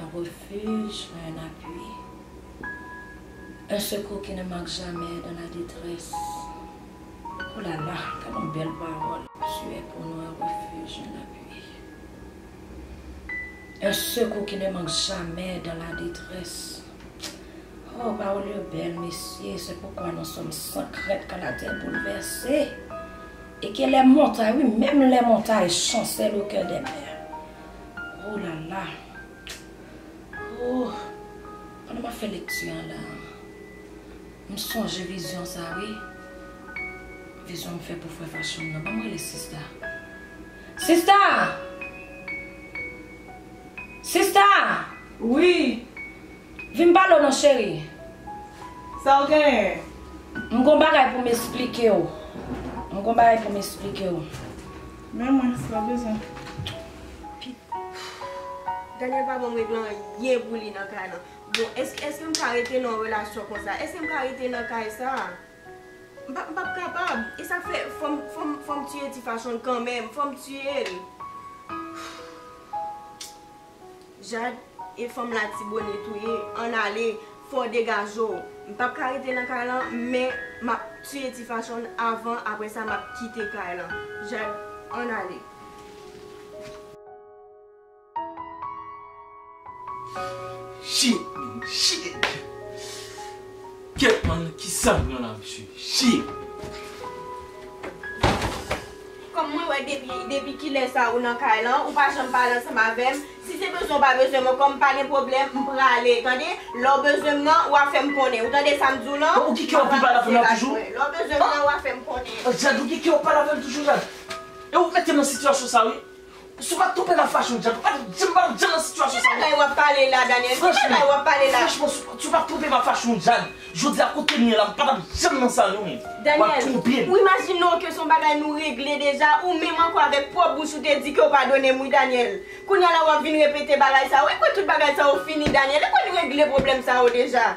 Un refuge, mwen un appui. Un secours qui ne manque jamais dans la détresse. Ooh la la, gad yon bèl pawòl. Tu es pour nous un refuge, un appui. Un secours qui ne manque jamais dans la détresse. Ooh pawòl yo bèl mesye, c'est pourquoi nous sommes sans crainte quand la terre bouleverse et que les montagnes, wi menm lè montay chancèl au cœur des mers. Oh la la Ooh Pandan map fè lekti an la M sonje vizyon sa wi Vizyon m fè pou frè Fashion nan Banm rele sista Sista Sista Wi Vin pale w non cheri Sa w genyen M gon bagay pou m esplike w M gon bagay pou m esplike w. Men mwen san bezwen pi. Daniel pa banm regle anyen pou li nan kay lan bon eske m ka rete nan yon relasyon konsa eske m ka rete nan kay sa m pap kapab esak fè fòm tiye ti fachonl kanmenm fòm tiyel. Jade e fanm latibonit wi ann ale fò degajew m pap ka rete nan kay lan men map tiye ti fachonn avan aprè sa map kite kay lan Jade ann ale. Shit man shit Kèt man kisa m pran la mesye shit. Kòm mwen wè depi depi kilè sa ou nan kay lan ou pa janm pale ansanm avèm si se bezwen ou pa bezwen mwen kòm pa gen pwoblèm m prale tande lèw bezwen m nan wa fèm konnen ou tande sam diw lan Bon ou ki kèw pi pale avèm la toujou lèw bezwen m nan wa fèm konnen. Jade ou ki kèw pale avèm toujou Jade e ou k mete m nan sitiyasyon sa wi Si w pa tonbe nan fachon djab. Ap di m pa nan djab nan sitiyasyon sa yo. Ki bagay wap pale la Daniel? Ki bagay wap pale la? Franchman, si w pa tonbe nan fachon djab. Jodi a kote m ye la m patap janm nan sa non men. Wap twonpe m. Daniel, ou imajine w ke son bagay nou regle deja, ou menm ankò avèk pwòp bouch ou te di ke w padone m wi Daniel. Kounya la wap vin repete bagay sa yo. Ekwè tout bagay sa yo fini Daniel? Ekwè n regle pwoblèm sa yo deja?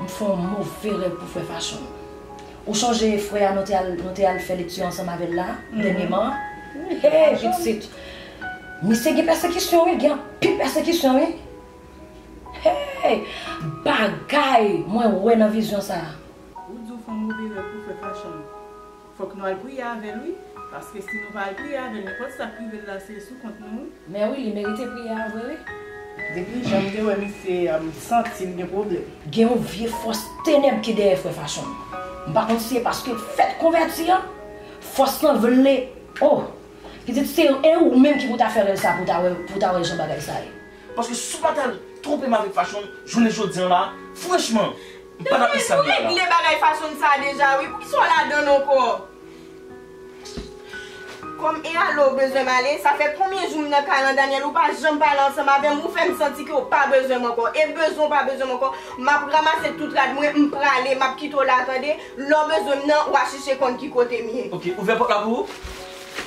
M fè yon move rèv pou frè Fashion. Ou chonje frè a nou te al nou te al fè lekti ansanm avè l la dènyeman an? Hee Dixit! Misye gen pèsekisyon wi, gen anpil pèsekisyon wi! Hee! Bagay mwen wè nan vizyon sa a! Ou di w fè yon move rèv pou frè Fashion. Fok nou al priye avel wi. Paske si nou pa al priye avel nenpot sak rivel la se sou kont nou wi. Mè wi li merite priye a vre wi. Depi janm te wè misye a m santim gen pwoblèm. Gen yon vye fòs tenèb ki dèyè frè Fashion. M pa konn si e paske l fèt konvèti an. Fòs lan vle oh! Pitit se e ou menm ki pou ta fè rèl sa pou w ta wè jan bagay sa ye. Paske si w pa ta twonpe m avèk fachon jounen jodi an la, franchman, m pa t ap Islamiyah la. Depwen, ou regle bagay fachon sa a deja wi, poukisa w ladann ankò? Kòm e ale w bezwen m ale, sa fè konbyen jou m nan kay lan Daniel, ou pa janm pale ansanm avè m, ou fè m santi ke w pa bezwen m ankò. E bezwen w pa bezwen m ankò, m ap ramase tout rad mwen, m prale, m ap kite w la tande, lè w bezwen m nan, w a chèche konn ki kote m ye. Ok, ouvè pòt la pou ou.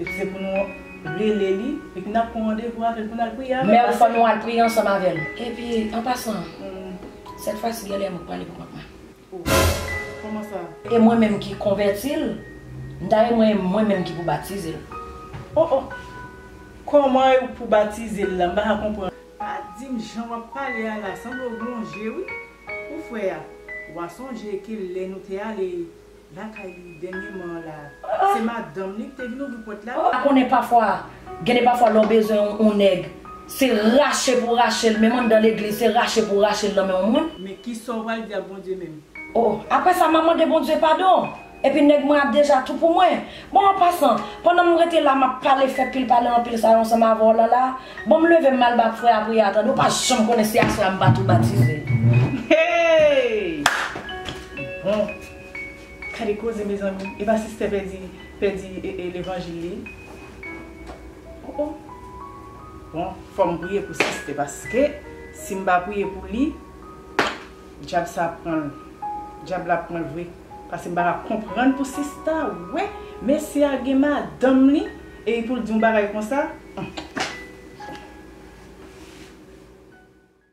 Epi se pou nou rele li, epi nap pran randevou avèl pou nal priye avèl. Mère fò nou al priye ansanm avèl. Epi an pasan, sèt fwa si gen lè mwen k pale pou kont mwen. Oh kòman sa? E mwen menm ki konvèti l, m'ta renmwen e mwen menm ki pou batize l. Oh oh! Kòman e ou k pou batize l la? M'pa ka konprann. Pa dim jan wap pale a la, sanble w gon je wi ou fè a. Wa sonje ke lè nou te ale Lakay li dènyeman an la. Se madanm li ki te vin ouvri pòt la. Pa konnen pafwa, gen de pafwa lè w bezwen yon nèg, se rache pou w rache l, menm anndan legliz, se rache pou w rache l nan men yon moun. Men kisa w pral di ak Bondye menm? O, apre sa, m a mande Bondye padon, epi nèg mwen ap deja tou pou mwen. Bon, an pasan, pandan m rete la m ap pale, fè pil pale anpil sa yo ansanm avè w Lala, bon m leve m al ba frè a priyè a tande, ou pa janm konnen si aswè a m pa tou batize. Hey! Bon! Gade koze mezanmi epa sister pèdi pèdi levanjil li oh oh bon fòm priye pou sister paske sim pa priye pou li djab sa ap pranl djab la ap pranl vre paske m paka konprann pou sista wè mesye a gen madanm li epi poul di yon bagay konsa humm bon.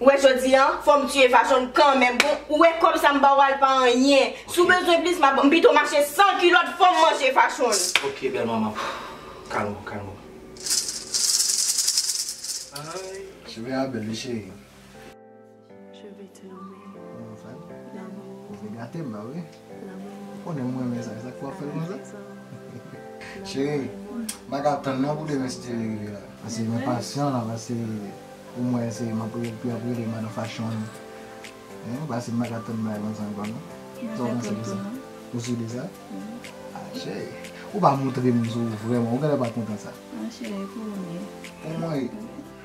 Ou wè jodi an, fòm tiye fachonn kanmenm bon, ou wè kòb sa m ba w al pa anyen. Si w bezwen plis m ap, m pito mache san kilòt fòm manje fachonn. Ok bèl manman, kalm ou, kalm ou. Ayy. Cheve a bèl wi cheri. Cheve ti lanmou. Ou wè m fè? Lanmou. Ou vle gate m la wi. Ou konnen m renmen sa, sak fè wap fèl konsa? Cheri, ma ka tann nan pou demen si Thierry rive la. Pase m enpasyan la, pase pou m wè si map rele epi ap rele madan fachon an. Hein, pase m pa ka tann bagay konsa ankò non. Sa w panse de sa? Ou si de sa? Ah cheri, ou pa montre m si w vrèman, ou genlè pa kontan sa. Ah cheri, pou mwen. Pou mwen?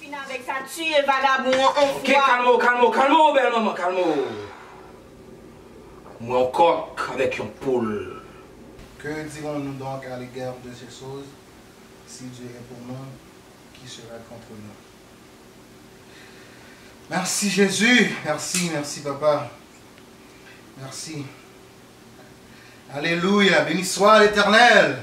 Fin avèk sa tuye vagabon an on fwa. Ok kalme w kalme w kalme w bèl manman kalme w Mwen yon kòk avèk yon poul. Que dirons-nous donc à l'égard de ces choses? Si Dieu est pour nous, qui sera contre nous? Merci Jésus! Merci, merci Papa! Merci! Alléluia! Béni soit l'Éternel!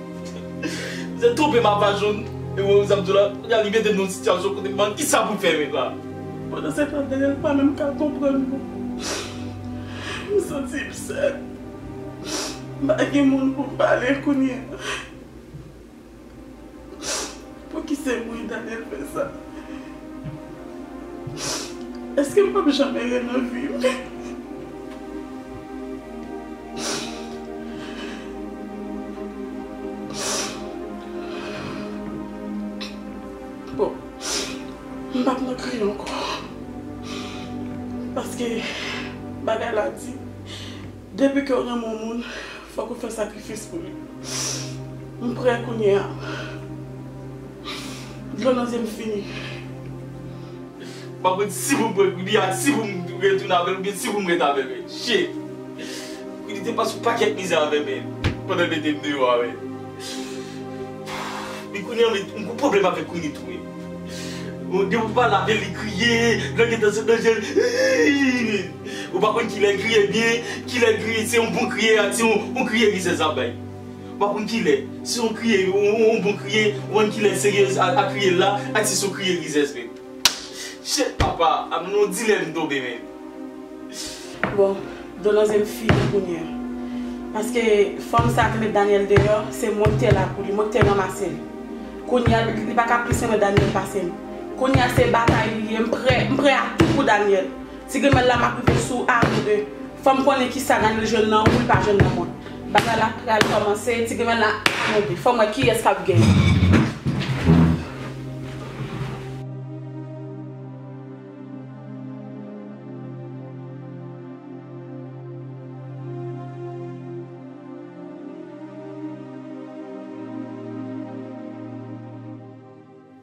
Msèt twonpe m a pa jwenn e wè sa m di w la kounye a li mete m nan yon sitiyasyon kote m pa konn kisa pou m fè avèk la. Pandan se tan Daniel pa menm ka konprann mwen. M santi m sèl. M pa gen moun pou m pale kounye a. Pouki se mwen li ta dwe fè sa? Eske m pap janm ere nan vi m? Bon, m pap nan kriye ankò paske bagay la di. Depi kew renmen yon moun fok ou fè sakrifis pou li m prè kounye a dlo nan zyem fini. Map wè si poum prank Rudy ak si poum retounen avèl oubyen si poum ret avèl men shit Rudy te pase yon pakèt mizè avèm men pandan l metem deyò a men men kounye an m gon pwoblèm avèk Rudy tou wi depi m pale avèl li kriye dlo gentan sot nan jel iiiiii. Ou pa konn kilè kriye byen, kilè kriye se yon bon kriye ak se yon kriye rizèz lap bay. Ou pa konn kilè se yon kriye yon bon kriye, ou pa konn kilè seryez a kriye la ak si se yon kriye rizèz menm. Shit papa, a m nan yon dilèm m tonbe menm. Bon, do nan zen m fini kounye a. Paske fanm sa ki met Daniel deyò, se mwen ki te la pou li, mwen ki te ranmase l. Kounye a li pa ka plis renmen Daniel pase m. Kounye a se batay li ye, m prè, m prè a tou pou Daniel. Tigrimèl la map rive sou ou avan de fèm konnen kisa Daniel jwenn nan ou li pa jwenn nan mwen bagay la pral kòmanse tigrimèl la avan de fèm wè kiyès kap genyen.